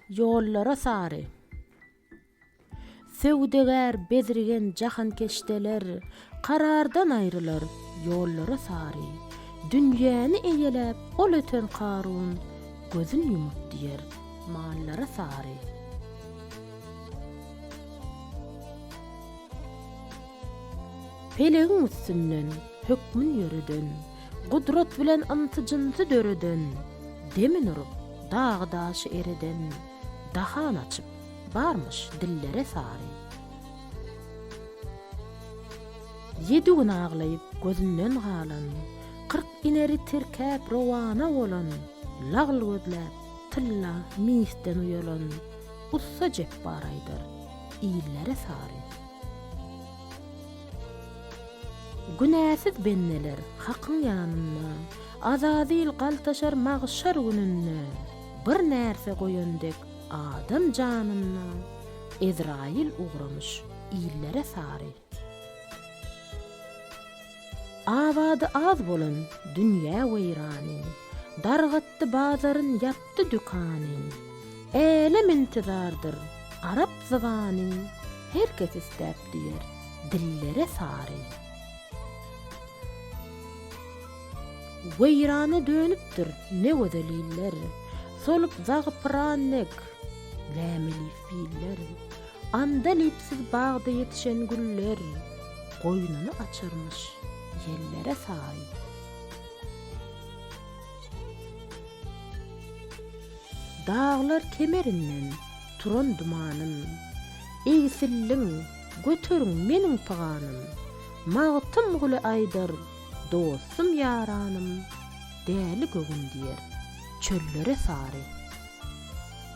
Ýollara sary. Söwdagär bezrigen jahankeşdeler Karardan aýrylar, ýollara sary. Dünýäni eýeläp ol öten Karun Gözün ýumup diýer, mallara sary. Pelegiň üstünden hökmün ýöreden, Gudrat bilen ynty-jynty döreden, Demin urup, dagy-daşy ereden, Dahan açyp, barmyş dillere sary. Ýedi gün aglaýyp gözünden galan, Kyrk ineri tirkäp rowana bolan, Lagl gözläp, tylla, misden uýalan, Ussa Jepbar aýdar. illere sary. Günäsiz bendeler Hakyň ýanynda, azazyl galtaşar magşar gününde, bir närse goýan dek adam janynda, Ezraýyl ugramyş illere sary. Abady az bolan dünýä weýrany, Dargatdy bazaryn, ýapdy dükany. Älem intizardyr, arap zybany, Her kes isläp düýer, dillere sary. Weýrana dönüpdir ne gözel iller, Solup zagy pyran dek, lämeli. Biller. Andalipsiz bagda ýetişen güller, Goýnuny açarmyş ýellere saý. Daglar kemerinden turan dumanym, Egsilliň, göteriň meniň pyganym, Magtymguly aýdar, dostum-ýaranym, Däli göwün diýer, çöllere sary.